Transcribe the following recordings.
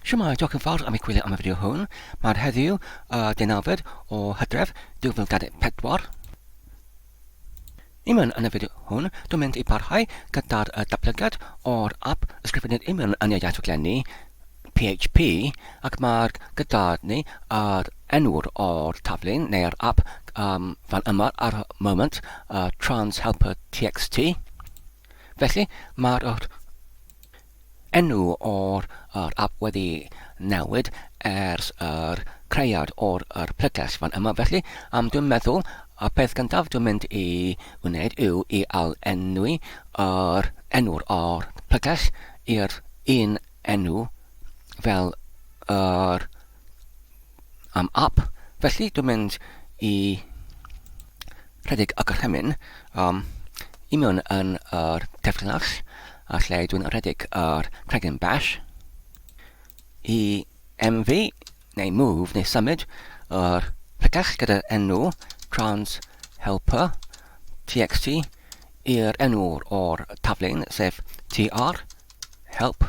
Shwmae, diolch yn fawr am ei gwylio am y fideo hwn. Mae'r heddiw y deunawfed o Hydref 2024. Iman yn y fideo hwn, dwi'n mynd i barhau gyda'r y datblygiad o'r app ysgrifennydd Iman yn y iaith rhaglenni PHP ac mae'r gyda ni yr enwr o'r taflen neu'r app um, fan yma ar y moment, uh, transhelper.txt. Felly, mae'r yr enw o'r yr ap wedi newid ers yr creiad o'r yr plyges fan yma. Felly, um, dwi'n meddwl y peth gyntaf dwi'n mynd i wneud yw i ail-enwi yr enw'r o'r plyges i'r un enw fel yr am ap, felly dwi'n mynd i rhedeg y gorchymyn um, i mewn yn yr defllinell a lle dwi'n rhedeg yr cregyn bash i MV neu move neu symud yr pregell gyda'r enw trans helper txt i'r enw o'r taflen sef tr help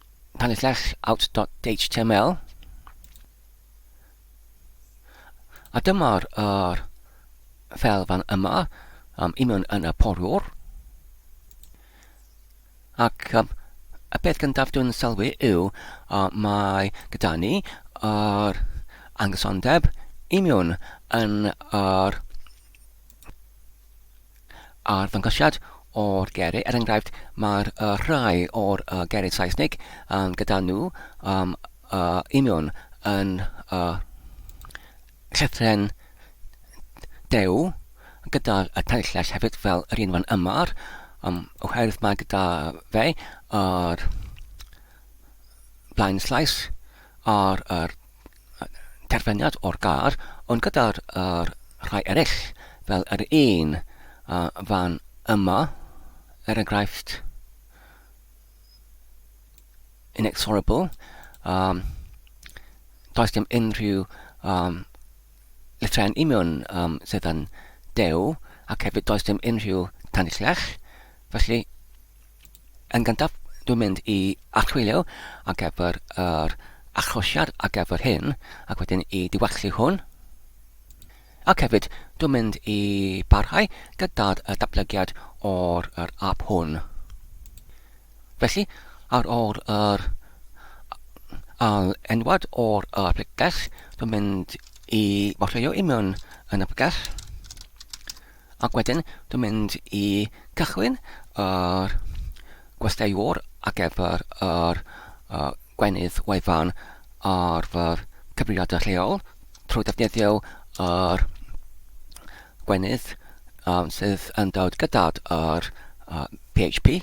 Pan ellech out.html. A dyma'r er, fel fan yma, um, union yn y poriwr. Ac um, y peth gyntaf dwi'n sylwi yw uh, mae gyda ni yr er angosondeb union yn yr er arddangosiad o'r geiriau. Er enghraifft, mae'r uh, rhai o'r uh, geiriau Saesnig um, gyda nhw um, uh, union yn uh, llythren dew gyda y tanillais hefyd fel yr un fan yma um, oherwydd mae gyda fe yr blaen slaes a'r, yr terfyniad o'r gar, ond gyda'r er, rhai eraill, fel yr un a fan yma, er enghraifft, inexorable, um, does dim unrhyw um, llythrau'n union um, sydd yn dew, ac hefyd does dim unrhyw tanillell, felly Yn gyntaf, dwi'n mynd i archwilio ar gyfer yr achlosiad ar gyfer hyn, ac wedyn i diwallu hwn. Ac hefyd, dwi'n mynd i barhau gyda'r datblygiad o'r yr app hwn. Felly, ar ôl yr al enwad o'r y pregell, dwi'n mynd i warcheio i mewn yn y pregell. Ac wedyn dwi'n mynd i cychwyn yr gwesteiwr ar gyfer yr uh, gwenydd wefan ar fy cyfrifiadur lleol trwy ddefnyddio yr gwenydd um, sydd yn dod gyda'r uh, PHP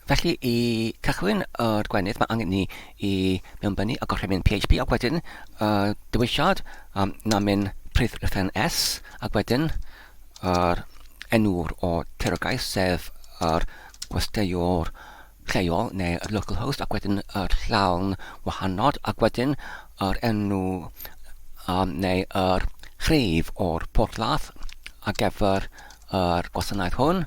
Felly, i cychwyn o'r gwenith, mae angen ni i mewnbynnu a gorchymyn PHP ac wedyn uh, dewisiad um, namin prif rhifyn S ac wedyn yr enw'r o terogaeth sef yr gwesteiwr lleol neu yr local host ac wedyn yr llawn wahanod ac wedyn yr enw um, neu yr rhif o'r porthladd a gefr yr gwasanaeth hwn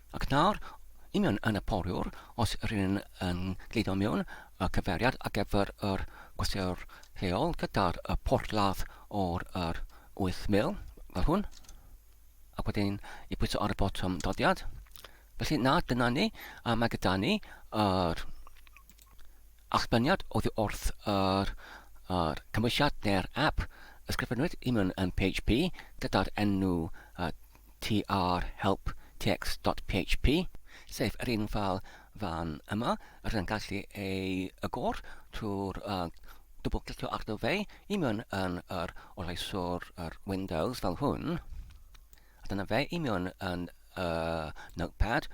Ac nawr, union yn y poriwr, os ry'n yn gludo mewn y cyfeiriad ar gyfer yr gwasgwr lleol gyda'r porthladd o'r yr 8,000, fel hwn, ac wedyn i bwyso ar y botwm doddiad. Felly na, dyna ni, a mae gyda ni yr allbyniad oddi wrth yr, yr cymwysiad neu'r app ysgrifennwyd i mewn yn PHP gyda'r enw uh, tr help txt.php, sef yr un ffeil fan yma. Rydyn yn gallu ei agor trwy'r uh, dwbl clicio arno fe i mewn yn yr oleiswr yr Windows fel hwn. A dyna fe i mewn yn uh, Notepad,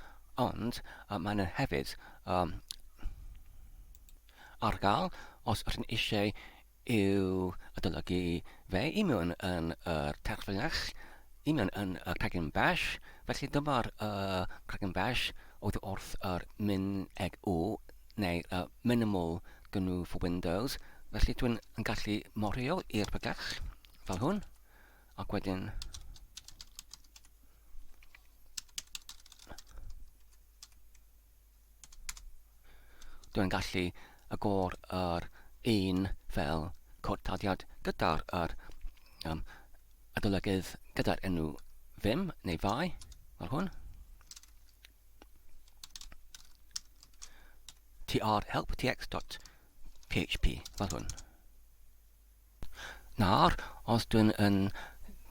ond uh, maen nhw hefyd um, ar gael os ydyn eisiau yw adolygu fe i mewn yn yr terfynach, i mewn yn y cregyn bach, felly dyma'r y cregyn bach oedd wrth yr min eg u, neu y minimal gnu for Windows, felly dwi'n yn gallu morio i'r bygach fel hwn, ac wedyn Dwi'n gallu agor yr un fel cortadiad gyda'r yr um, adolygydd gyda'r enw ddim neu fai, fel hwn. tr help tx.php, fel hwn. Nawr, os dw i'n yn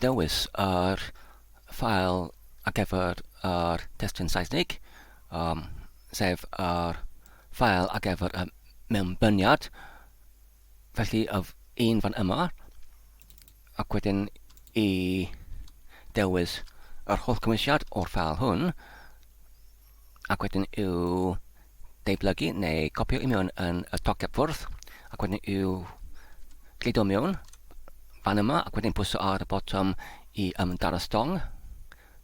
dewis yr ffael ar gyfer yr testun Saesnig, yym, sef yr ffael ar gyfer y mewnbyniad, felly y f- un fan yma, ac wedyn i dewis yr holl gymwysiad o'r ffael hwn, ac wedyn i'w deiblygu neu copio i mewn yn y toceb ffwrdd ac wedyn i'w gludo mewn fan yma ac wedyn pwyso ar y botwm i ymdaro stong.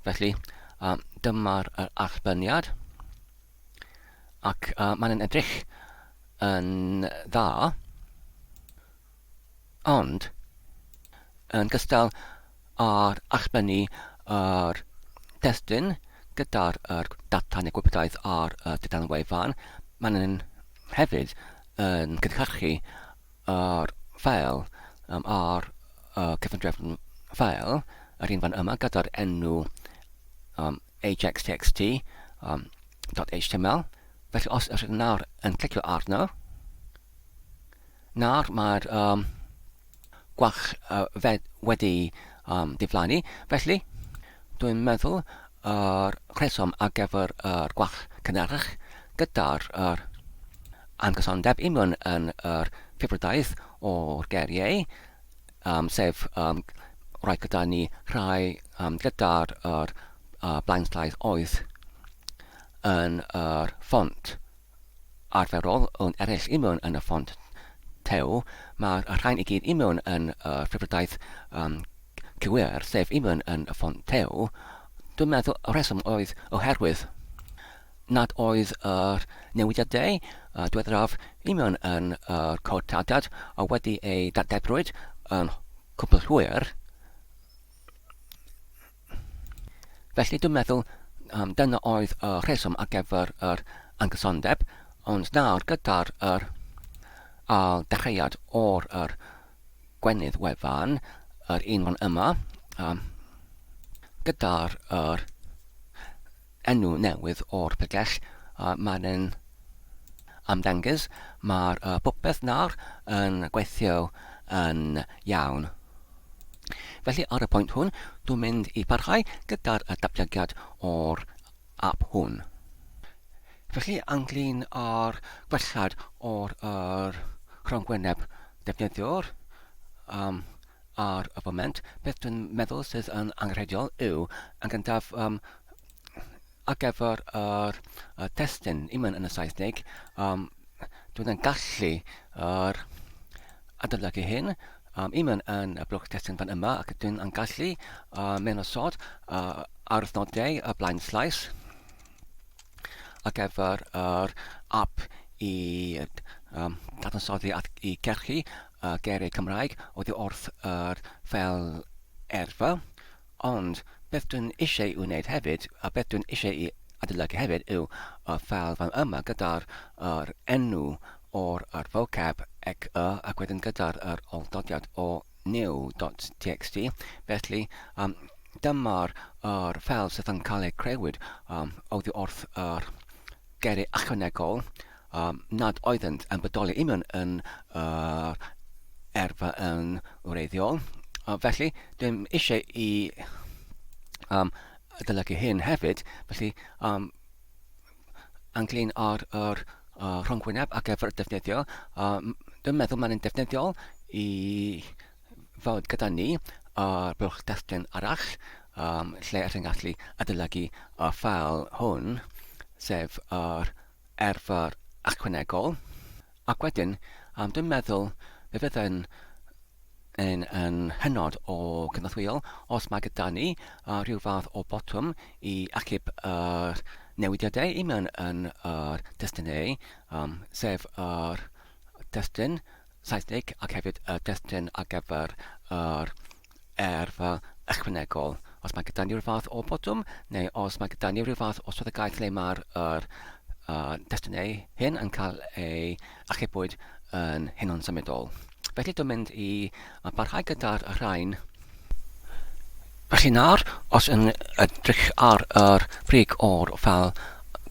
Felly, uh, dyma'r uh, allbyniad ac uh, mae'n edrych yn dda. Ond, yn gystal â'r allbynnu yr testun gyda'r yr data neu gwybodaeth ar y dudalen wefan, maen nhw'n hefyd yn cynhyrchu yr ffeil um, ar y cyfundrefn ffeil, yr un fan yma gyda'r enw um, ajax.txt um, .html. Felly os ydych nawr yn clicio arno, Nawr mae'r um, gwalch uh, fed wedi um, diflannu, felly dwi'n meddwl yr uh, rheswm ar gyfer yr uh, gwalch cynharach gyda'r uh, amgysondeb union yn yr uh, ffibrodaeth o'r geriau, um, sef um, rhai gyda ni rhai um, gyda'r uh, uh, blaenslaeth oedd yn yr uh, ffont. arferol yn eraill i mewn yn y ffont tew, mae'r rhain i gyd i mewn yn y rhyddfrydaeth um, cywir, sef i mewn yn y ffont tew. Dwi'n meddwl y rheswm oedd oherwydd nad oedd yr newidiadau uh, diweddaraf i mewn yn y uh, cod tardad a wedi ei dargebrwyd yn cwbl hwyr, Felly dwi'n meddwl um, dyna oedd y rheswm ar gyfer yr angysondeb, ond nawr gyda'r yr ail dechreuad o'r yr gwenydd wefan, yr un fan yma, um, gyda'r yr enw newydd o'r pregeth a mae'n yn ymddangys, mae'r popeth nawr yn gweithio yn iawn. Felly ar y pwynt hwn, dwi'n mynd i parhau gyda'r datblygiad o'r ap hwn. Felly ynglyn â'r gwellhad o'r yr rhongyngwyneb defnyddiwr, um, Ar y foment, beth dwi'n meddwl sydd yn angenrheidiol yw, yn gyntaf, um, ar gyfer yr uh, testyn, even yn y Saesnig, um, dwi'n yn gallu yr adolygu hyn, um, even yn y blwch testyn fan yma, ac dwi'n yn gallu uh, mewn osod uh, ar nodau y blaen slais ar gyfer yr app i um, dadansoddi at i gerchu y geiriau Cymraeg oddi wrth yr fel erfa, ond beth dwi'n eisiau i'w wneud hefyd, a beth dwi'n eisiau i adolygu hefyd yw y fel fan yma gyda'r yr enw o'r yr vocab ec y ac wedyn gyda'r yr olldodiad o new.txt, felly um, dyma'r yr fel sydd yn cael ei creuwyd um, oddi wrth yr geiriau ychwanegol Ym nad oeddynt yn bodoli union yn yr erfa yn wreiddiol. Felly, dym eisiau i um, adolygu hyn hefyd, felly um, anglyn ar yr uh, rhongwyneb ac efo'r defnyddio, um, dwi'n meddwl mae'n defnyddiol i fod gyda ni ar uh, bylch destun arall, um, lle ydych chi'n gallu adolygu y ffael hwn, sef yr ar fy ychwanegol, ac wedyn, um, dwi'n meddwl fe fyddai'n yn, yn hynod o gynorthwyol os mae gyda ni uh, rhyw fath o botwm i achub yr uh, newidiadau i mewn yn yr uh, destunau, um, sef yr uh, destun Saesnig ac hefyd y uh, destun ar gyfer yr uh, Yrfa ychwanegol, os mae gyda ni ryw fath o botwm, neu os mae gyda ni ryw fath o swyddogaeth le mae'r er, uh, destunau hyn yn cael ei achubwyd yn hunan symudol. Felly dwi'n mynd i barhau gyda'r rhain Felly nawr, os yn edrych ar yr brig o'r fel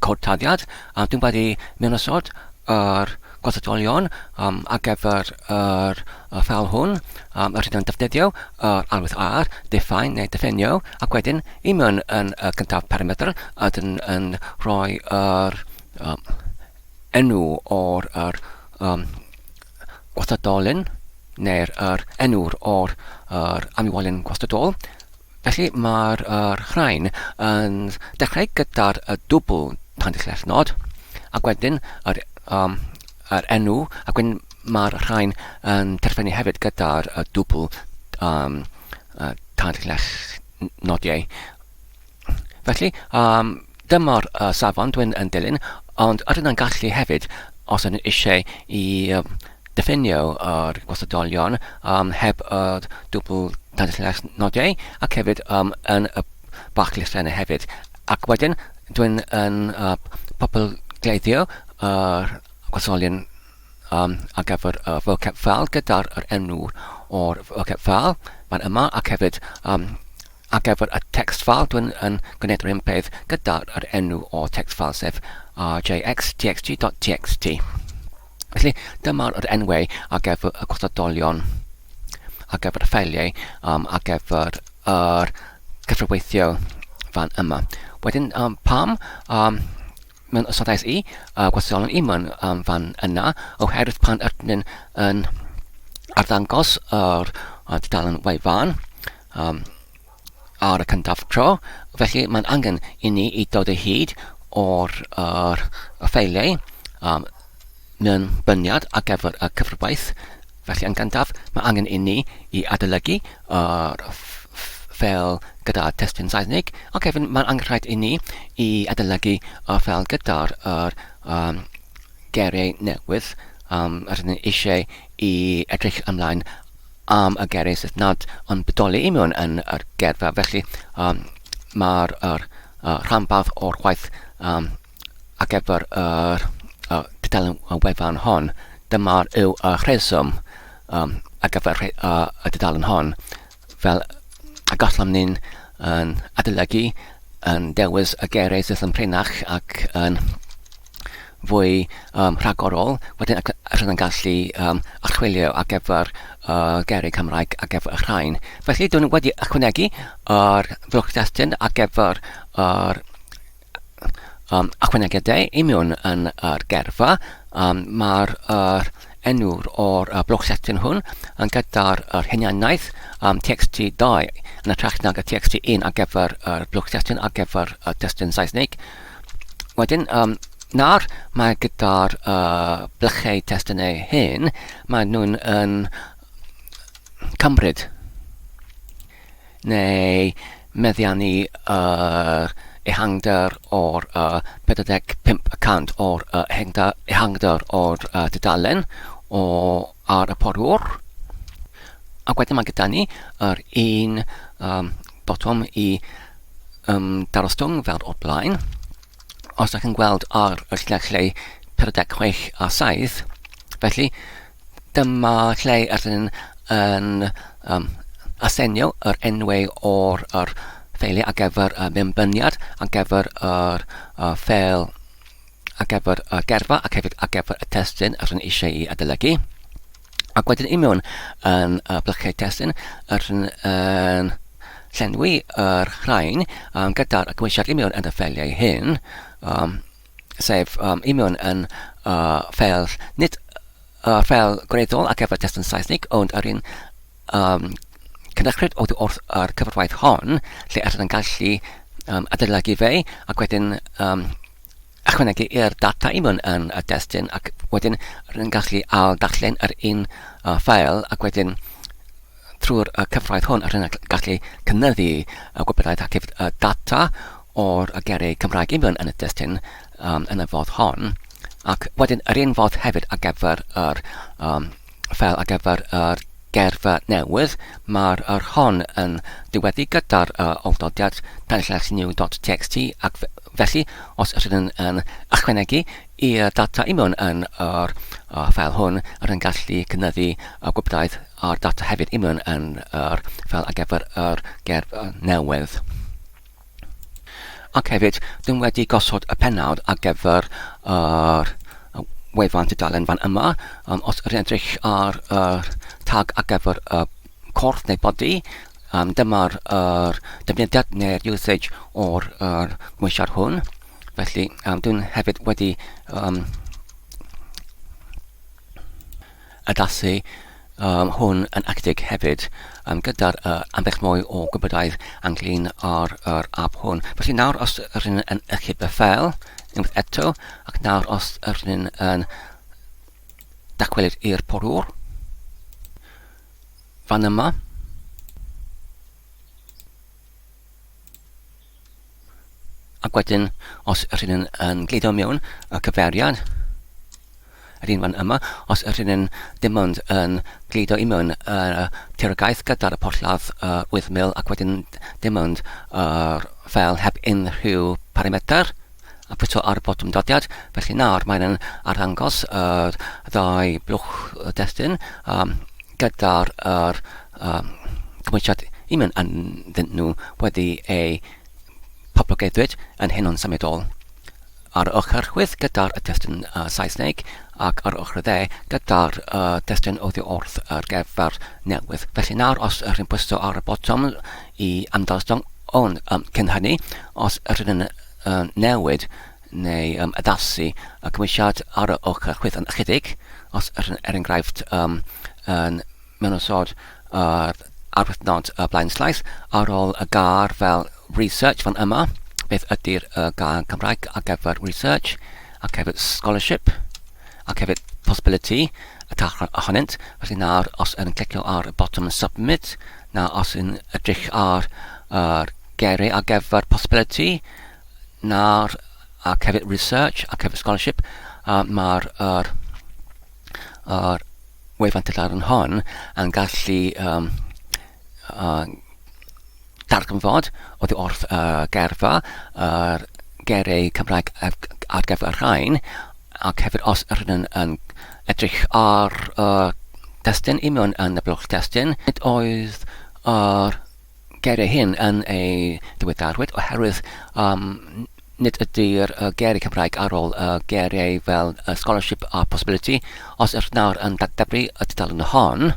cod taliad a dwi'n wedi mynd osod yr gwasatolion um, ar gyfer yr y ffael hwn, um, yr hyn yn defnyddio yr arwydd ar, define neu defenio, ac wedyn i mewn yn y cyntaf parametr a dyn yn rhoi yr um, enw o'r yr, um, gwasadolyn neu'r er enw'r o'r yr amiwolyn gwastadol Felly mae'r rhain yn dechrau gyda'r dwbl tanllefnod ac wedyn yr, um, yr enw ac wedyn mae'r rhain yn terfynu hefyd gyda'r dwbl um, tanllefnodiau. Felly, um, Dyma'r safon dwi'n yn dilyn, ond yr yna'n gallu hefyd os ydyn nhw eisiau i yym diffinio yr gwasadolion yym heb yr dwbl dadlles nodau ac hefyd yym yn y bach llythrennau hefyd. Ac wedyn dwi'n yn yy populgleiddio yr gwasadolion um, ar gyfer y vocab file gyda'r yr enw o'r vocab file fan yma ac hefyd um, Ar gyfer y text file, dwi'n yn gwneud yr un peth gyda yr enw o'r text file, sef rjxtxg.txt. Felly, dyma yr enwau ar gyfer y gwrthodolion, ar gyfer y ffeiliau, um, ar gyfer yr cyfreweithio fan yma. Wedyn, um, pam um, mewn ystodais i, uh, gwrthodolion i mewn um, fan yna, oherwydd pan ydyn yn arddangos yr uh, dudalen wefan, um, ar y cyntaf tro, felly mae'n angen i ni i dod o hyd o'r er, y ffeiliau um, mewn byniad ar gyfer y cyfrwaith. Felly yn gyntaf, mae angen i ni i adolygu yr er, ffeil gyda testun Saesnig, ac hefyd mae'n angen rhaid i ni i adolygu y ffeil gyda'r er, um, geiriau newydd um, rydyn ni eisiau i edrych ymlaen am y geiriau sydd nad yn bodoli i mewn yn yr gerfa. Felly, um, mae'r er, uh, rhanbarth o'r gwaith um, ar gyfer yr uh, dudalen wefan hon. Dyma'r yw y rheswm um, ar gyfer uh, y dudalen hon. Fel y gallwn ni'n yn adolygu yn dewis y geiriau sydd yn prinach ac yn fwy yym rhagorol, wedyn y cy- yr yn gallu yym archwilio ar gyfer y geiriau Cymraeg ar gyfer y rhain. Felly dwi wedi ychwanegu yr fuwch destun ar gyfer yr um, ychwanegiadau i mewn yn yr gerfa. Um, Mae'r er, enw'r o'r uh, blwch setyn hwn yn gyda'r er hunianaeth um, TXT2 yn y trach nag y TXT1 ar gyfer yr er blwch setyn ar gyfer y testun Saesnig. Wedyn, um, nawr mae gyda'r uh, blychau testyn eu hyn, mae nhw'n yn cymryd neu meddiannu yr ehangder o'r uh, 45 y cant o'r uh, ehangder o'r uh, dudalen o ar y porwr. Ac wedyn mae gyda ni yr un um, botwm i um, darostwng fel o'r blaen. Os ydych chi'n gweld ar y lle lle 46 a 7, felly dyma lle ydyn yn um, asenio yr enwau o'r er ffeiliau ar gyfer y mewnbyniad, ar gyfer yr er, uh, ffeil ar gyfer y gerfa ac hefyd ar gyfer y testyn rydyn eisiau i adolygu. Ac wedyn i mewn yn y blyciau testyn rydyn yn llenwi yr rhain um, gyda'r gweisiad i mewn yn y ffeliau hyn, um, sef um, i mewn yn uh, ffel, nid uh, ffel gwreiddiol ac gyfer testyn Saesnig, ond yr un um, cynachred oddi wrth ar cyfarwaith hon, lle allan yn gallu um, adeiladu fe, ac wedyn um, ychwanegu i'r data i mewn yn y destun, ac wedyn rydyn gallu al darllen yr un uh, ffael, ac wedyn trwy'r uh, cyfraith hwn, rydyn gallu cynnyddu uh, gwybodaeth ac uh, data o'r gerrig Cymraeg i mewn yn y destun um, yn y fodd hon, ac wedyn yr un fodd hefyd ar gyfer yr um, fel ar gyfer yr gerfa newydd, mae'r yr hon yn diweddu gyda'r uh, awdodiad penllais new.txt ac felly os ydyn yn, yn ychwanegu i'r data i mewn yn yr uh, fel hwn, rydyn gallu cynyddu y gwybdaeth a'r data hefyd i mewn yn yr fel ar gyfer yr gerfa newydd. Ac hefyd, dwi'n wedi gosod y pennawd ar gyfer yr wefan tudalen fan yma. Um, os ydych edrych ar y tag ar gyfer y corff neu body, um, dyma'r er, defnyddiad neu'r usage o'r er, gwmisiad hwn. Felly, um, dwi'n hefyd wedi um, Addasu um, hwn yn acedig hefyd um, gyda'r uh, ambell mwy o gwybodau anglyn ar yr app hwn. Felly nawr os rydyn ni'n yn eich bethel, unwaith eto, ac nawr os rydyn ni'n yn dacwelyd i'r porwr, fan yma, Ac wedyn, os ydyn ni'n yn gludo mewn y cyfeiriad, yr un fan yma, os ydyn ni'n dim ond yn gludo i mewn y terogaeth gyda'r y porthladd uh, wythmil ac wedyn dim ond yr fel heb unrhyw parametr, a pwyso ar botwm dyddiad. Felly nawr mae'n yn arddangos yr ddau blwch destun um, gyda'r er, um, cymwysiad i mewn ynddyn nhw wedi ei poblogeddwyd yn hyn o'n symudol. Ar y ochr chwyth gyda'r destun uh, Saesneg ac ar y ochr dde gyda'r uh, destun oddi wrth yr geffer newydd. Felly nawr os rhywun pwyso ar y botwm i amddiffyn hwn, yym, cyn hynny, os ydyn yn um, newid neu um, addasu y cymwysiad ar y ochr chwith yn ychydig, os ydyn yn er enghraifft um, yn mewn osod ar arwythnod y blaen slaeth ar ôl y gar fel research fan yma, beth ydy'r uh, gair Cymraeg ar gyfer research ac hefyd scholarship. ac hefyd possibility y caiff rhan ohonynt. Felly nawr, os yn clicio ar y botwm submit, na os yn edrych ar yr geiriau ar gyfer possibility, nawr ac hefyd research ac hefyd scholarship, uh, mae'r er, er wefan tyllar yn hon yn gallu um, uh, darganfod oddi wrth y geirfa, yr geiriau Cymraeg ar gyfer y rhain, ac hefyd os ydyn nhw'n yn edrych ar y destun i mewn yn y blwch destun. Nid oedd yr geiriau hyn yn ei ddiweddarwyd oherwydd um, nid ydy'r uh, geiriau Cymraeg ar ôl y uh, geiriau fel uh, scholarship a possibility. Os ydych nawr yn dadebru y tudalen hon,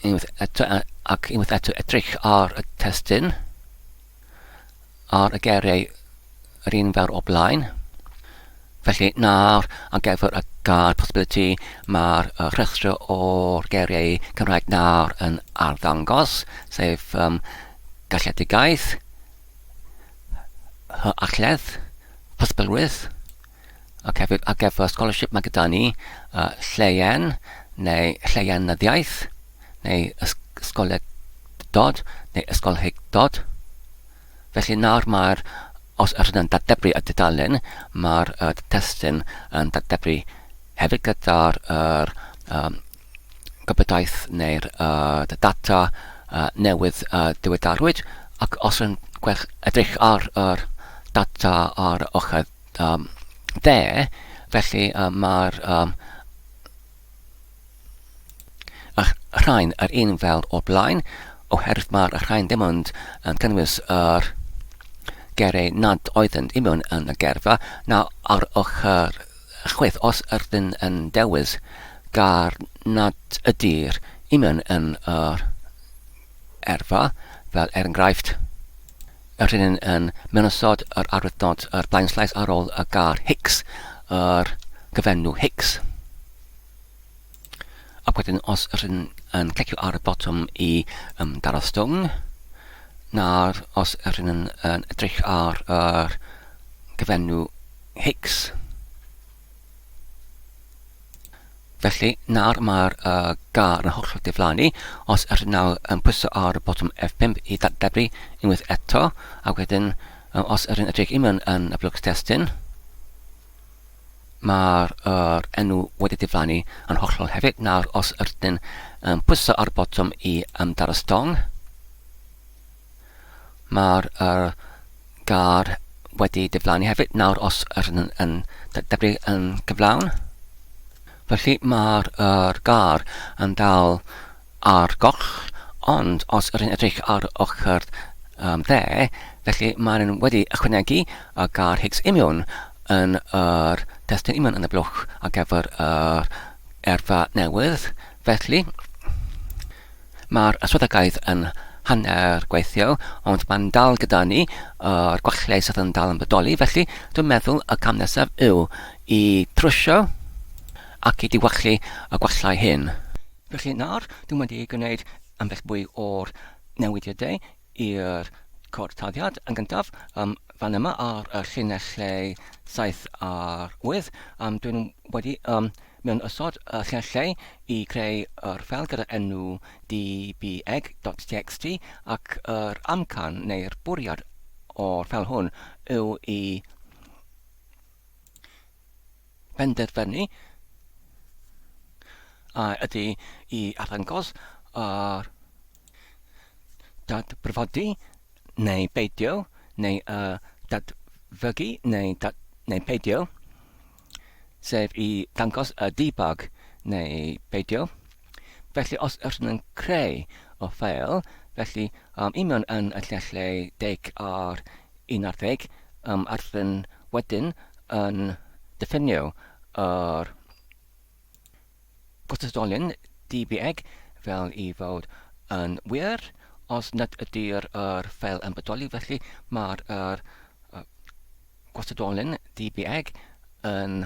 unwaith eto ac unwaith eto edrych ar y testyn ar y geiriau yr un fawr o blaen. Felly nawr ar gyfer y gair possibility mae'r rhestr o'r geiriau Cymraeg nawr yn arddangos, sef um, galledigaeth, hyachledd, posibilrwydd, ac hefyd ar gyfer scholarship mae gyda ni uh, lleien neu lleienyddiaeth neu ysgolegdod neu ysgolheictod. Felly nawr mae'r, os ydych chi'n dadebru y dudalen, mae'r uh, testyn yn dadebru hefyd gyda'r er, um, gobedaeth neu'r uh, data uh, newydd uh, diwedarwyd ac os yn gwell edrych ar yr er data ar ochr Yym, de, felly yy mae'r yym y rhain yr un fel o'r blaen, oherwydd mae'r rhain ddim ond yn cynnwys yr gerau nad oeddynt i mewn yn y gerfa. Nawr, ar ochr chwith, os ydyn yn dewis gar nad ydy'r i mewn yn yr erfa, fel er enghraifft, y rhynyn yn mynysodd yr arwyddnod yr blaenslais ar ôl y gar Hicks, yr cyfenw Hicks. Ac wedyn os yr hyn yn clicio ar y botwm i um, daro stone, nawr os yr hyn yn, yn edrych ar yr cyfenw Hicks, Felly, nawr mae'r uh, gar yn hollol diflannu. Os ydych nawr yn pwyso ar y botwm F5 i ddadebru unwaith eto, a wedyn uh, os ydych yn edrych i mewn yn y blwc testyn, mae'r uh, enw wedi diflannu yn hollol hefyd. Nawr, os ydych yn pwyso ar y botwm i ymdar y stong, Mae'r er, gar wedi diflannu hefyd nawr os yr yn, yn deblu yn gyflawn. Felly mae'r er, gar yn dal ar goll, ond os yr yn edrych ar ochr um, dde, felly mae'n wedi ychwanegu y gar Higgs imiwn yn yr testyn imiwn yn y blwch ar gyfer yr erfa newydd. Felly, Mae'r swyddogaeth yn hanner gweithio, ond mae'n dal gyda ni, yr gwallau sydd yn dal yn bodoli, felly dwi'n meddwl y cam nesaf yw i trwsio ac i diwallu y gwallau hyn. Felly nawr, dwi wedi gwneud ambell bwy o'r newidiadau. i'r cortaddiad yn gyntaf yym fan yma ar y llinellau 7 a'r 8 yym dwi wedi yym mewn ysod y llinellau i greu yr ffel gyda'r enw dbeg.txt ac yr amcan neu'r bwriad o'r ffel hwn yw i penderfynu a ydy i arddangos ar dadbrfodi neu beidio neu y dadfygu neu dad neu peidio, sef i ddangos y debug neu beidio. Felly os ydyn yn creu o ffeil, felly um, union yn y llelleu deg ar un ar ddeg, um, a rydyn wedyn yn diffinio yr gwrthdolyn DBEG fel i fod yn wir, os nad ydy'r yr ffeil yn bodoli, felly mae'r yr, uh, gwrthdolyn DBEG yn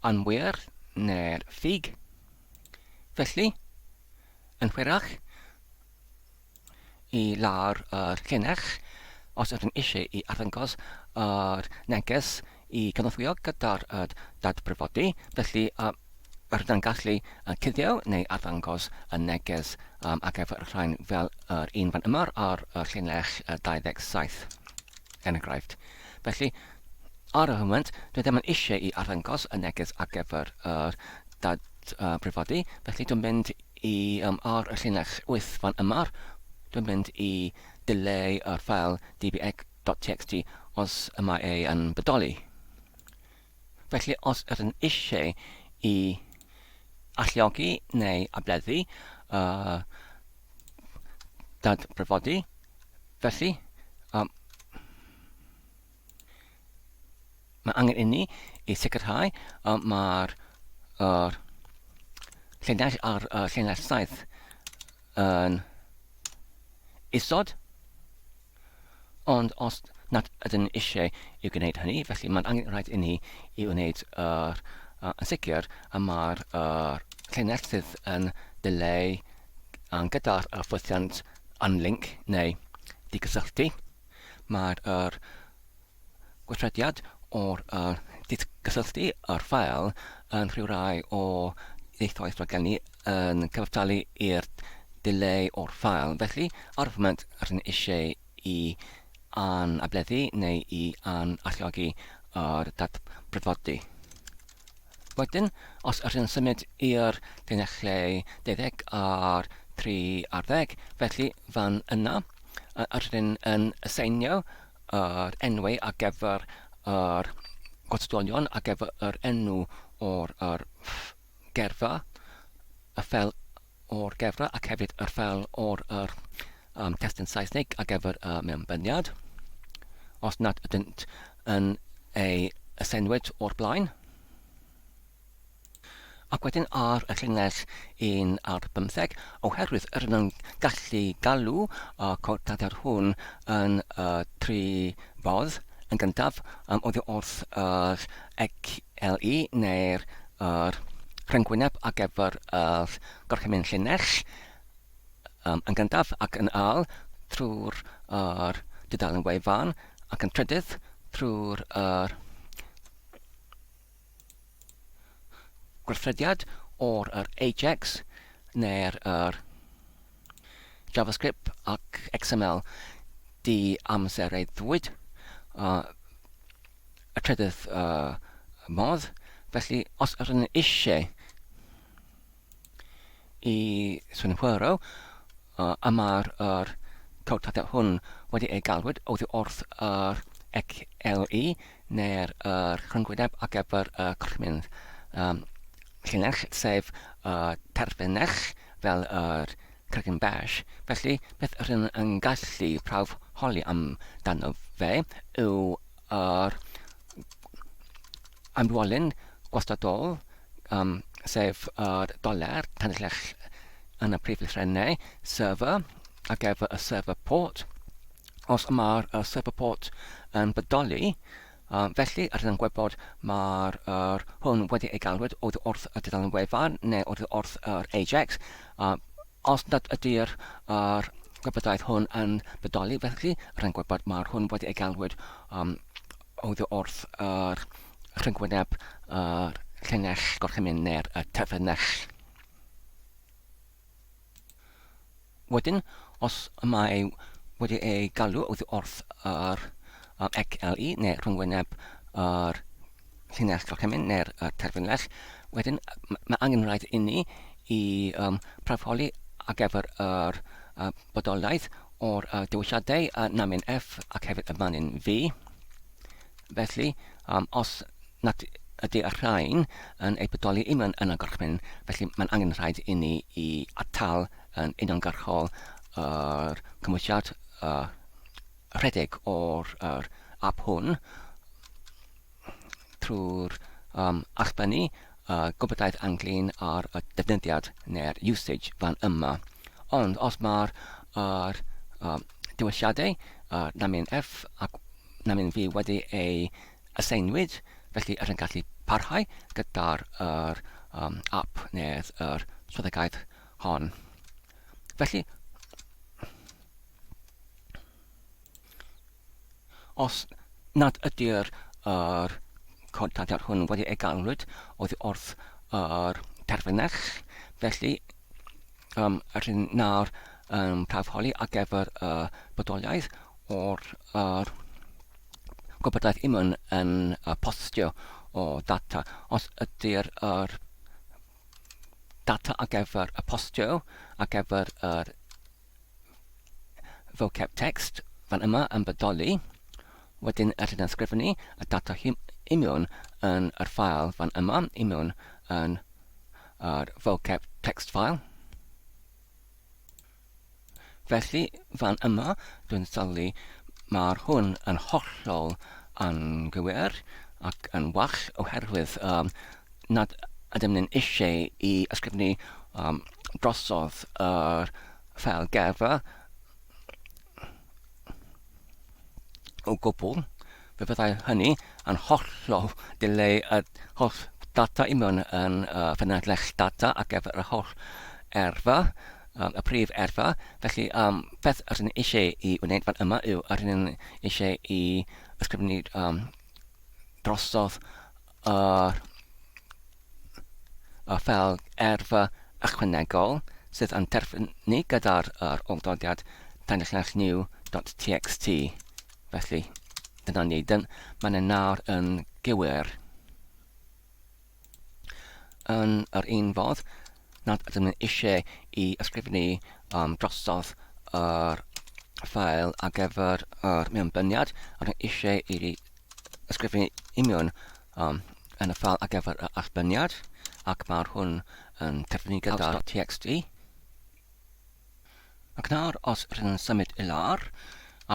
anwir na'r ffug. Felly, yn hwyrach, i lawr yr llinell, os ydym eisiau i arddangos yr neges i gynorthwyo gyda'r dadbrifodi, felly rydym yn gallu cuddio neu arddangos y neges ar gyfer y rhain fel yr un fan yma ar llinell 27, er enghraifft. Felly, Ar y foment, dwi ddim yn eisiau i arddangos y neges ar gyfer yr dadbrifodi, felly dwi'n mynd i, um, ar y llinell wyth fan yma, dwi'n mynd i dileu yr ffael dbx.txt os y mae ei yn bodoli. Felly os yr yn eisiau i alluogi neu ableddu y dadbrifodi, felly um, Mae angen inni i sicrhau y mae'r er, llinell ar y llinell saith yn isod, ond os nad ydyn ni eisiau i gwneud hynny, felly mae'n angen rhaid inni i wneud yr, yn sicr y mae'r er, llinell sydd yn dileu gyda'r ffwythiant unlink neu digysylltu. Mae'r yr gweithrediad o'r yr didgysylltu yr ffael yn rhyw rai o ieithoedd rhag geni yn cyfartalu i'r dileu o'r ffael, felly ar y foment rydyn eisiau i anableddu neu i an-alluogi yr dadbrydfodi. Wedyn, os ydych yn symud i'r llinellau deuddeg a'r tri ar ddeg, felly fan yna, ydyn yn aseinio yr enwau ar gyfer yr gwrthdolion ar gyfer yr enw o'r gyrfa, fel o'r gefra ac hefyd yr ffel o'r yr um, testyn Saesnig ar gyfer y uh, mewnbyniad, os nad ydynt yn ei ysenwyd o'r blaen. Ac wedyn ar y llynges un ar bymtheg, oherwydd yr yn gallu galw y cordadau'r hwn yn y tri fodd yn gyntaf, um, oddi wrth yr CLE neu'r yr rhyngwyneb ar gyfer yr gorchymyn llinell um, yn gyntaf ac yn ail trwy'r yr dudalen wefan ac yn trydydd trwy'r yr gweithrediad o'r yr Ajax neu'r yr JavaScript ac XML di amseraiddwyd uh, y trydydd uh, modd. Felly, os ydyn ni eisiau i synhwyro uh, y mae'r er cawtadau hwn wedi ei galwyd oddi wrth yr XLE neu'r er rhyngwyneb ar gyfer y corchmyn um, llinell, sef y uh, terfynell fel yr er Cregyn Bach, felly, beth r'yn yn gallu prawf holi am dano fe yw yr amrywolyn gwastadol, um, sef yr doler, tanllell yn y prif lythrennau, server, ac ef y server port. Os mae'r server port yn bodoli, A felly, rydyn yn gwybod mae'r yr hwn wedi ei galwyd oddi wrth y dudalen wefan neu oddi wrth yr AJAX. A os nad ydy'r yr gwybodaeth hwn yn bodoli, felly rydyn yn gwybod mae'r hwn wedi ei galwyd um, oddi wrth yr rhyngwyneb yr llinell gorchymyn neu'r y terfynell. Wedyn, os y mae wedi ei galw oddi wrth yr um, ECLI neu rhyngwyneb yr llinell gorchymyn neu'r uh, terfynlell, wedyn mae angen rhaid inni i um, prafoli ar gyfer yr uh, bodolaeth o'r uh, dewisiadau uh, namin F ac hefyd y manin V. Felly, um, os nad ydy y rhain yn eu bodoli im yn y gorchmyn, felly mae'n angen rhaid inni i atal yn uniongyrchol yr cymwysiad uh, rhedeg o'r yr ap hwn trwy'r um, allbynnu uh, gwybodaidd anglyn ar y defnyddiad neu'r usage fan yma. Ond os mae'r uh, um, dewisiadau uh, Namion F ac na mynd fi wedi ei aseinwyd, felly yr yn gallu parhau gyda'r yr um, app neu'r yr swyddogaeth hon. Felly, os nad ydy'r yr cod data'r hwn wedi ei galwyd oddi wrth yr terfynach, felly Yym, rydyn ni nawr yn tarfholi ar gyfer y bodoliaeth o'r yr gwybodaeth yma yn, yn uh, postio o data. Os ydy'r yr data ar gyfer y postio, ar gyfer yr vocab text fan yma yn bodoli, wedyn rydyn ni'n sgrifennu y data hyn i mewn yn yr ffael fan yma, i mewn yn ar vocab text file. Felly, fan yma, dwi'n sylwi, mae'r hwn yn hollol anghywir ac yn wall oherwydd um, nad ydym ni'n eisiau i ysgrifennu um, drosodd yr ffel gerfa o gwbl. Fe fyddai hynny yn hollol dileu y holl ddata i mewn yn y ffynonell data ar gyfer yr holl erfa, um, y prif erfa. Felly, um, beth rydyn ni eisiau i wneud fan yma yw rydyn ni eisiau i ysgrifennu um, drosodd Yr a fel erfa ychwanegol sydd yn terfynu gyda'r yr olddodiad danyllinell new dot txt. Felly, dyna ni. Dyn, mae yna nawr yn gywir. Yn yr un fodd, nad ydym yn eisiau i ysgrifennu um, drosodd yr ffael ar gyfer yr mewnbyniad, rydym eisiau i ysgrifennu union um, yn y ffal ar gyfer y allbyniad, ac mae'r hwn yn cyfynnu gyda'r txt. Ac nawr, os rydyn yn symud i lawr,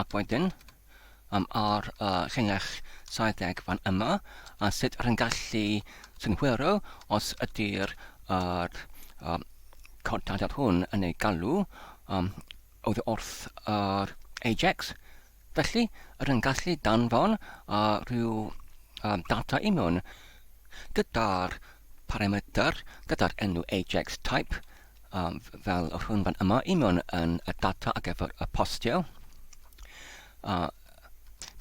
ac wedyn, um, ar y uh, llinell 70 fan yma, a sut rydyn gallu synhwyro os ydy'r er, um, codadad hwn yn ei galw um, oddi wrth yr Ajax, Felly, rwy'n gallu danfon rhyw ddata i mewn gyda'r parametr, gyda'r enw ajax type, fel yr hwn fan yma, i mewn yn y data ar gyfer y postio.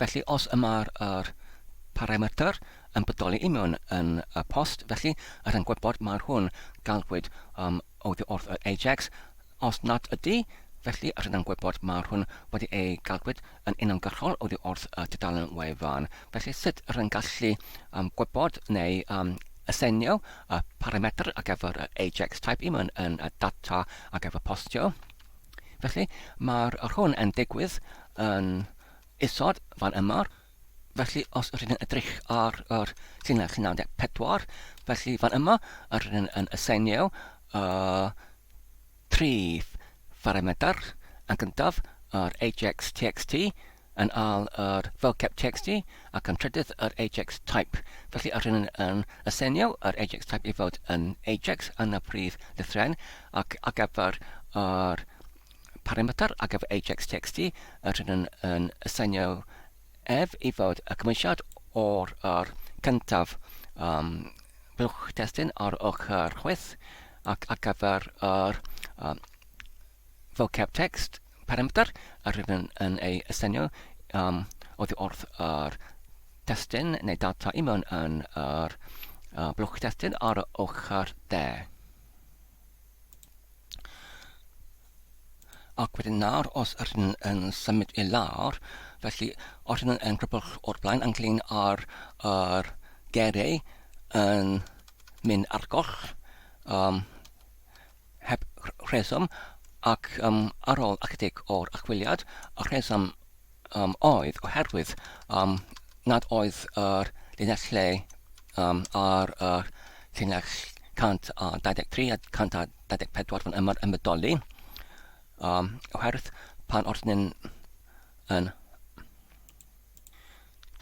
Felly, os y mae'r parametr yn bodoli i mewn yn y post, felly rwy'n gwybod mae'r hwn galwyd oddi wrth yr Ajax, os nad ydy, felly rydym gwybod mawr hwn wedi ei gadwyd yn uniongyrchol oddi wrth y tudalen wefan. Felly sut rydym gallu um, gwybod neu um, asenio y parametr ar gyfer yr Ajax type i mewn yn y data ar gyfer postio? Felly, mae'r hwn yn digwydd yn isod fan yma. Felly, os rydyn ni'n edrych ar yr llinell 94, felly fan yma, yr rydyn ni'n yn aseinio y tri pharametr yn gyntaf, yr ajax txt, yn al yr vocab txt, ac yn trydydd yr ajax type. Felly, yr rydyn ni'n yn aseinio yr ajax type i fod yn ajax yn y prif lythren, ac ar gyfer yr Parametr ar gyfer ajax txt, yr hyn yn, yn aseinio ef i fod y cymwysiad o'r yr cyntaf um, blwch testun ar ochr chwith ac ar gyfer yr um, vocab text parametr yr hyn yn, yn ei aseinio um, oddi wrth yr testun neu data i mewn yn yr uh, blwch testun ar ochr de. Ac wedyn nawr, os yr hyn yn symud i lawr, felly os hyn yn crybwll o'r blaen, ynglyn ar yr gerei yn mynd ar goll, um, heb rheswm, ac um, ar ôl ychydig o'r achwiliad, y rheswm um, oedd oherwydd um, nad oedd yr llinell lle um, ar y llinell 123 a 124 fan yma'r ymwydoli um, oherwydd pan wrth ni'n yn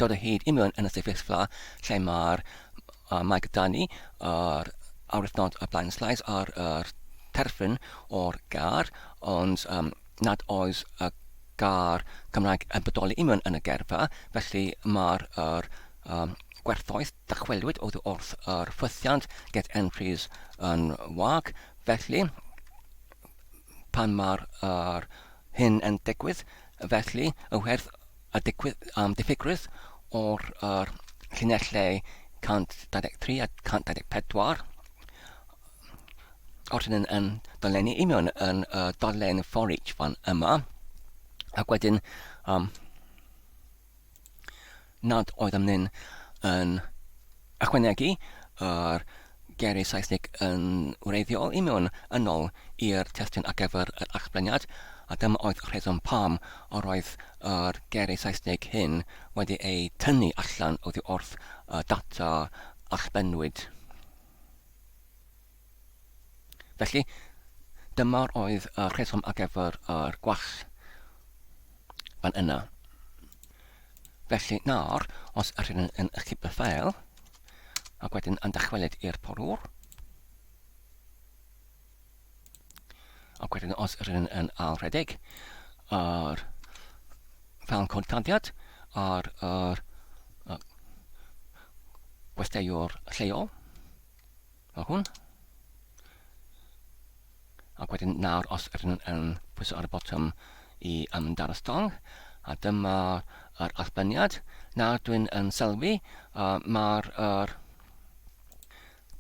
dod o hyd i mewn yn y sefyllfa lle mae'r uh, mae gyda ni yr awyrthnod y blaen sleis ar yr terfyn o'r gar ond um, nad oes y gair Cymraeg yn bodoli union yn y geirfa, felly mae'r yr um, gwerthoedd dychwelwyd oddi wrth yr ffwythiant get entries yn wag, felly pan mae'r yr hyn yn digwydd, felly y werth y digwydd am diffygrwydd o'r yr llinellau 123 a 124 Os yn yn dolenni i mewn yn y dolen for each fan yma, ac wedyn um, nad oedd am nyn yn ychwanegu yr geiriau Saesneg yn wreiddiol i mewn yn ôl i'r testyn ar gyfer yr achbleniad, a dyma oedd y rheswm pam yr oedd yr geiriau Saesneg hyn wedi eu tynnu allan oddi wrth y data allbennwyd. Felly, dyma oedd y rheswm ar gyfer yr gwall fan yna. Felly nawr, os ydych chi'n yn ychydig y ffael, ac wedyn yn dychwelyd i'r porwr, Ac wedyn os yr un yn ail rhedeg ar fel cod candiad ar yr uh, gwesteiwr lleol fel hwn ac wedyn nawr os yr un yn pwysau ar y botwm i ymdar y stong a dyma yr allbyniad. Nawr dwi'n yn sylwi uh, mae'r er,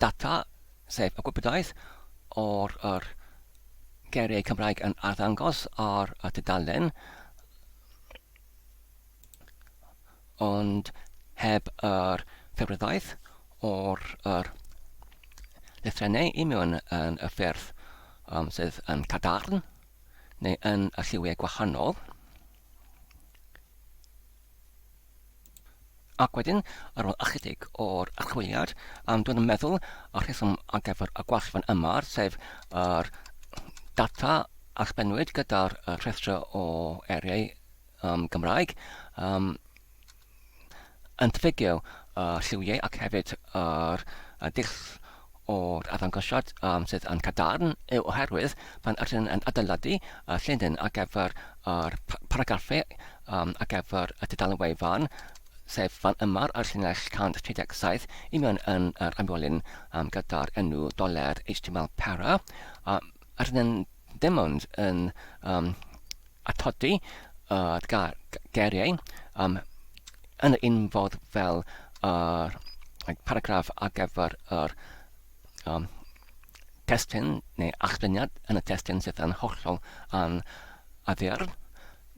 Data, sef y gwybodaeth o'r yr geiriau Cymraeg yn arddangos ar y tudalen, ond heb yr ffurfyddaeth o'r yr lythrennau i mewn yn y ffurf um, sydd yn cadarn neu yn y lliwiau gwahanol. Ac wedyn, ar ôl ychydig o'r archwiliad, am dod yn meddwl y rheswm ar gyfer y gwall fan yma, sef yr data a sbennwyd gyda'r rhestrau o eiriau um, Gymraeg, um, yn ffigio y lliwiau ac hefyd yr uh, dull o'r arddangosiad sydd yn cadarn yw oherwydd pan ydyn yn adeiladu llinyn ar gyfer yr paragraffu ar gyfer y tudalen wefan, sef fan yma ar llinell 137 i mewn yn yr amwelyn gyda'r enw doler HTML para, ydyn yn dim ond yn um, atodi uh, geiriau um, yn y un fodd fel yr uh, paragraff ar gyfer yr um, testyn neu achlyniad yn y testyn sydd yn hollol an addiar.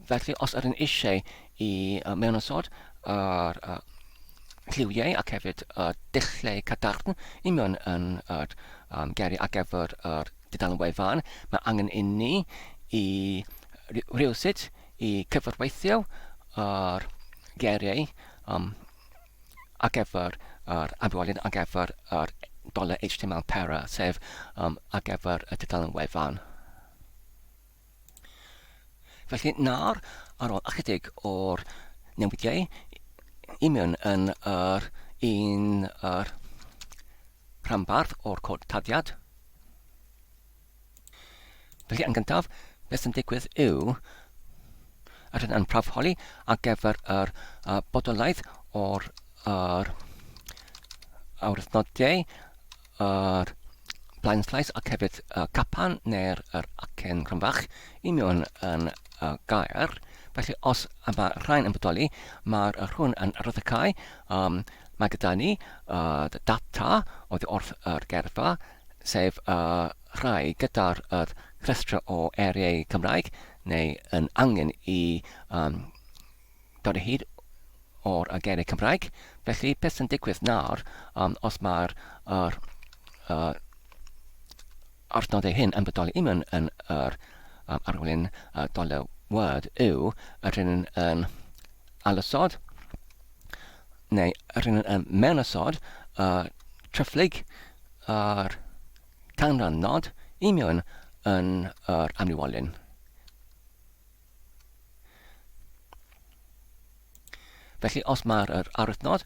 Felly, os ydyn eisiau i uh, mewn ysod yr uh, lliwiau ac hefyd y uh, dulliau cadarn i mewn yn yr uh, um, geiriau ar gyfer yr uh, Dudalen wefan, mae angen inni i rywsut i cyfarweithio yr geiriau um, ar gyfer yr amrywiolyn ar gyfer yr doler HTML para, sef um, ar gyfer y dudalen wefan. Felly nawr, ar ôl ychydig o'r newidiau, i mewn yn yr un yr rhanbarth o'r cod tarddiad. Felly yn gyntaf, beth sy'n digwydd yw, yr hyn yn prawfholi ar gyfer yr uh, bodolaeth o'r yr awyrthnodiau, yr blaen slais ac hefyd y capan neu'r yr acen rhanfach i mewn yn y gair. Felly os y mae rhain yn bodoli, mae'r rhwn yn raddycau Yym, mae gyda ni yr data oddi wrth yr gyrfa, sef y rhai gyda'r yr rhestr o eiriau Cymraeg, neu yn angen i yym, dod o hyd o'r y geiriau Cymraeg. Felly, beth sy'n digwydd nawr, yym, os mae'r yr yy Adnoddau hyn yn bodoli union yn yr arolwyn doler Word yw yr hyn yn ailosod neu yr hyn yn mewnosod y tryfflyg yr canran nod union yn yr amliwolyn. Felly os mae'r arwythnod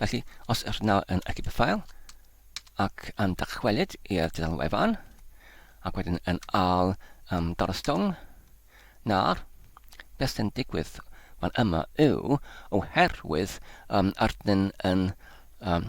Felly, os ydych nawr yn edit y ffael ac yn dychwelyd i'r dudalen wefan, ac wedyn yn al um, dal y stwng, nawr, beth sy'n digwydd fan yma yw, oherwydd um, ardyn yn um,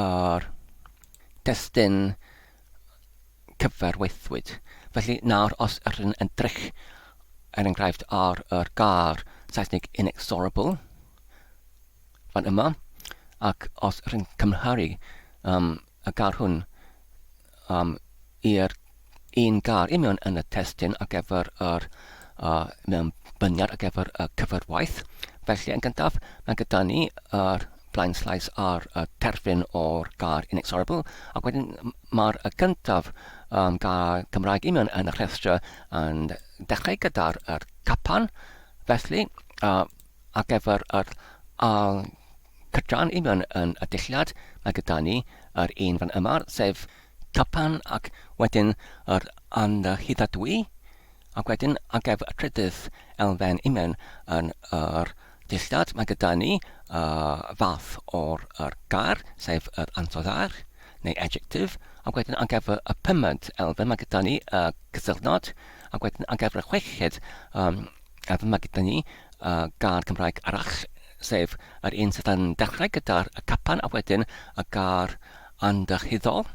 a'r testun cyfarwyddwyd. Felly nawr os ydych chi'n edrych er enghraifft ar yr gair Saesneg inexorable fan yma ac os ydych chi'n cymharu um, y gair hwn am i'r un gair union yn y testun ar gyfer yr uh, mewnbyniad ar gyfer y cyfrwaith. Felly, yn gyntaf, mae gyda ni yr blaen slaes ar y terfyn o'r gair inexorable, ac wedyn mae'r y gyntaf um, gair Cymraeg union yn y rhestr yn dechrau gyda'r er capan, felly uh, ar gyfer yr al Cytuno'n union yn y dulliad mae gyda ni yr un fan yma, sef Japan ac wedyn yr anrhyddhadwy, ac wedyn ar gyfer y trydydd elfen union yn yr dulliad mae gyda ni y fath o'r yr gair, sef yr ansoddair neu adjective, ac wedyn ar gyfer y pumed elfen mae gyda ni y cysylltnod, ac wedyn ar gyfer y chweched um, A dyma gyda ni uh, gair Cymraeg arall, sef yr un sydd yn dechrau gyda'r capan a wedyn y gair andychidol.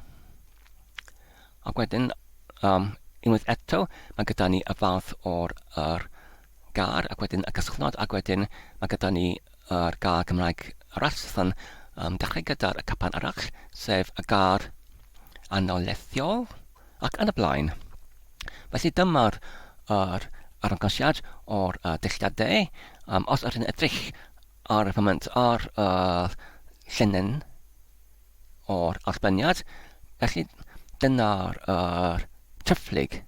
Ac wedyn, um, unwaith eto, mae gyda ni y fath o'r er, gair ac wedyn y casglod ac wedyn mae gyda ni yr gair Cymraeg arall sydd yn um, dechrau gyda'r capan arall, sef y gair anolethiol. ac yn y blaen. Felly dyma'r yr arangosiad o'r uh, dulliadau. Um, os ydyn edrych ar y foment ar y uh, llinyn o'r allbyniad, felly dyna'r uh, triphlyg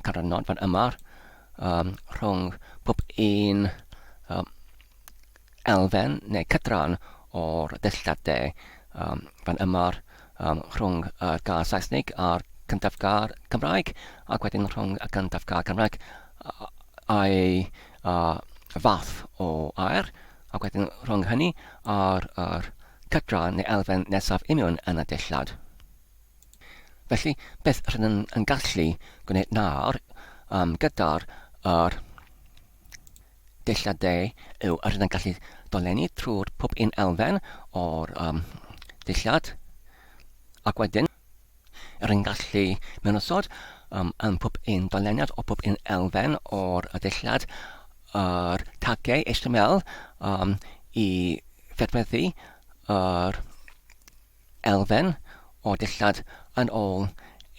canrannod fan yma um, rhwng pob un um, elfen neu cydran o'r dillad de, um, fan ymar, um, rhwng y gair Saesnig a'r cyntaf gair Cymraeg, ac wedyn rhwng y cyntaf gair Cymraeg a'i uh, fath o air, ac wedyn rhwng hynny a'r er, cydran neu elfen nesaf union yn y dillad. Felly, beth rydyn yn, yn gallu gwneud nawr um, gyda'r er, Dulliau De yw yr hyn a gallu dolenni trwy'r pob un elfen o'r um, dulliad, ac wedyn yr hyn gallu mewn osod um, yn pob un doleniad o pob un elfen o'r dulliad yr tagau HTML um, i fedweddu yr elfen o dillad yn ôl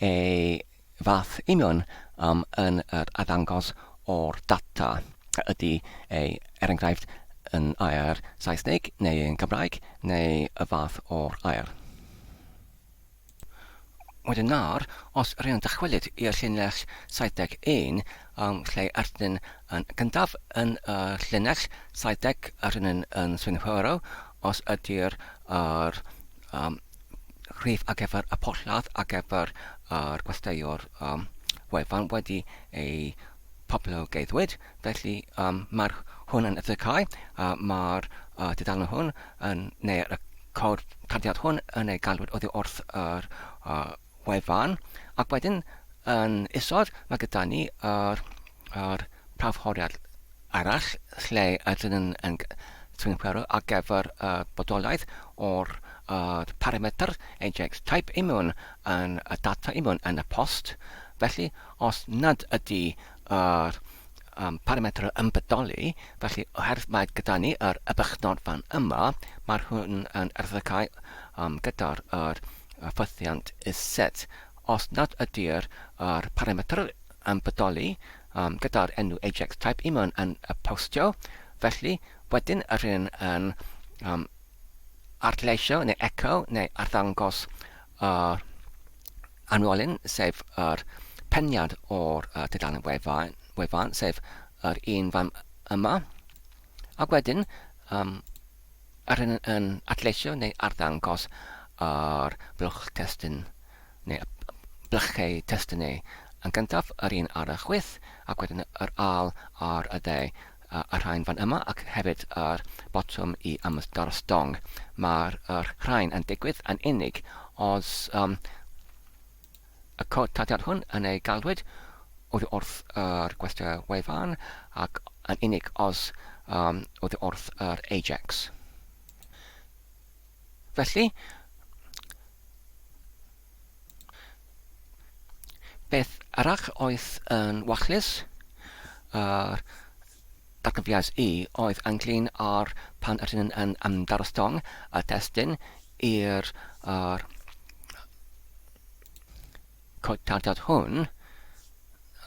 ei fath union am yn yr addangos o'r data, a ydy ei er enghraifft yn air Saesneg neu yn Gymraeg neu y fath o'r air. Wedyn nawr, os rŷn yn dychwelyd i'r llinell 71 am lle arnyn yn gyntaf yn y llinell 70 a rŷn yn yn synhwyro os ydy'r yr um, rhif ar gyfer y porthladd ar gyfer yr gwesteiwr um, wefan wedi ei poblogeiddwyd, felly um, mae'r hwn yn edrychau, uh, mae'r uh, dudalen hwn yn, neu y cawr tarddiad hwn yn ei galwyd oddi wrth yr uh, wefan, ac wedyn yn isod mae gyda ni yr, yr prawfhoriad arall lle ydyn yn yn tymherol ar gyfer y bodolaeth o'r y parametr Ajax type i mewn yn y data i mewn yn y post. Felly, os nad ydy yr um, parametr yn bodoli, felly oherwydd mae gyda ni yr ybychnod fan yma, mae'r hwn yn erthygau um, gyda'r yr ffythiant iset. Os nad ydy'r yr parametr yn bodoli um, gyda'r enw Ajax type i mewn yn y postio, felly wedyn rydyn yn um, arleisio neu echo neu arddangos yr anwolyn, sef yr peniad o'r uh, tudalen wefan, wefan, sef yr un fan yma. Ac wedyn, um, A rydyn yn adleisio neu arddangos ar blwch testun neu blychau testun neu, yn gyntaf, yr un ar y chwith, ac wedyn yr ail ar y dde, y rhain fan yma ac hefyd yr botwm i ymddangos stong. Mae'r rhain yn digwydd yn unig os Y codiad hwn yn ei galwyd oddi wrth yr gwesty wefan ac yn unig os um, oddi wrth yr Ajax. Felly, beth arall oedd yn wachlus? Yr Atgofiais i oedd ynglŷn â'r pan yr hyn yn ymdarostwng y testun i'r yr cotardod hwn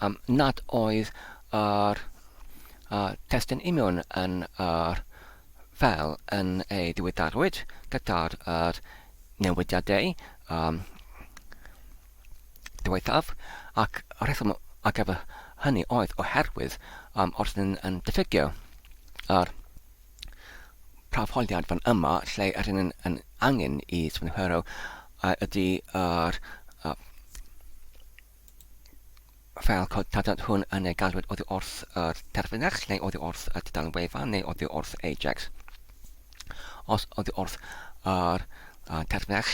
um, nad oedd yr uh, testun imiwn yn yr fel yn ei diweddarwyd gyda'r yr newidiadau um, diwethaf ac y rheswm ar gyfer hynny oedd oherwydd um, os ydyn yn diffygio yr prawfoliad fan yma lle yr hyn yn angen i swnhero ydy yr uh, fel cod tadad hwn yn ei gadwyd oddi wrth yr terfynach, neu oddi wrth y tudalen wefan, neu oddi wrth Ajax. Os oddi wrth yr uh, terfynach,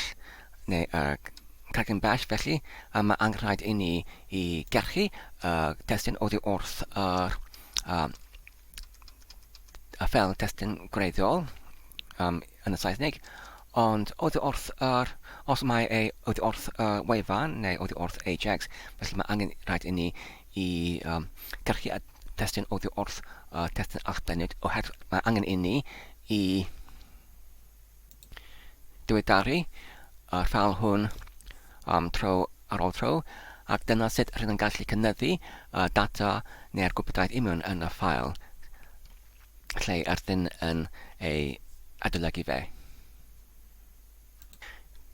neu y uh, cregyn bell, felly uh, mae angenrhaid i ni i gerchu y uh, testyn oddi wrth yr uh, a fel testyn gwreiddiol um, yn y Saesneg, ond oddi wrth yr, os mae ei oddi wrth y uh, wefan neu oddi wrth Ajax, felly mae angen rhaid i ni i um, gyrchu at testyn oddi wrth uh, testyn allbennid, oherwydd mae angen i ni i diweddaru y ffael hwn am tro ar ôl tro, ac dyna sut rydyn ni'n gallu cynyddu y data neu'r gwybodaeth union yn y ffael lle ydyn yn ei adolygu fe.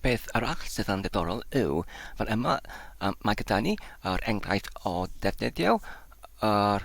Beth arall sydd yn ddiddorol yw, fel yma, mae gyda ni yr enghraifft o ddefnyddio yr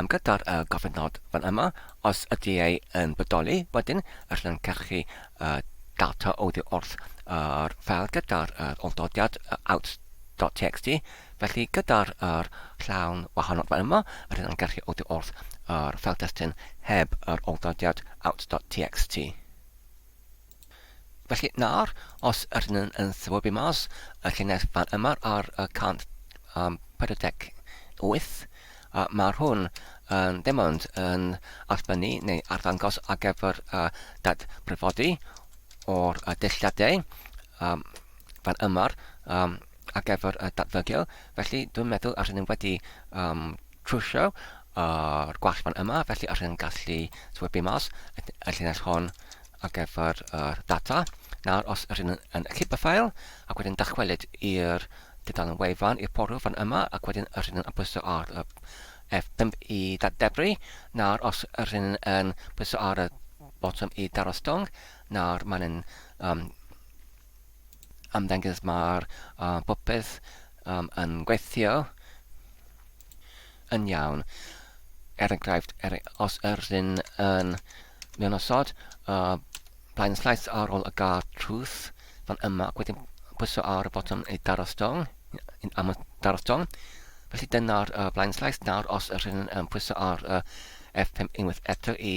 Am gadair y gofynnod fan yma, os ydy e yn bodoli, wedyn y llancachu y data oddi wrth yr ffeil gyda'r yr olldodiad out.txt, felly gyda'r yr llawn wahanod fan yma, y llancachu oddi wrth yr ffeil destun heb yr olldodiad out.txt. Felly, nawr, os ydyn nhw'n yn swybu mas y llinell fan yma ar y 148, mae hwn yn dim ond yn allbynnu neu arddangos ar gyfer y datbrifodi o'r dulliadau fan yma, ar gyfer y datfygio, felly dwi'n meddwl os ydym wedi um, trwsio o'r gwall fan yma, felly os ydym gallu swybu mas y llinell hon ar gyfer yr data. Nawr, os ydym yn clip y ffael, ac wedyn dychwelyd i'r dudalen wefan, i'r portal fan yma, ac wedyn yr hyn yn pwyso ar y F5 i ddebru. Nawr, os yr hyn yn pwyso ar y botwm i daro stong, nawr mae'n um, ymddengys mae'r popeth yn gweithio yn iawn. Er enghraifft, er, os yr ydyn yn mewn osod, blaen llais ar ôl y gar trws fan yma ac wedyn pwyso ar y botwm i daro stong, am y daro stong. Felly dyna'r blaen llais nawr os yr ydyn yn pwyso ar y F5 unwaith eto i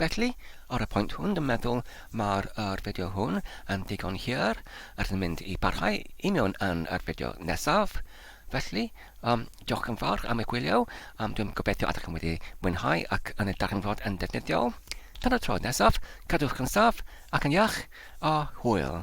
Felly, ar y pwynt hwn, dwi'n meddwl mae'r yr fideo hwn yn ddigon hir. Rydyn ni'n mynd i barhau i mewn yn yr fideo nesaf. Felly, um, diolch yn fawr am eich gwylio. Um, dwi'n gobeithio ydych chi'n wedi mwynhau ac yn y darganfod yn defnyddiol. Tan y tro nesaf, cadwch yn saf ac yn iach, a hwyl!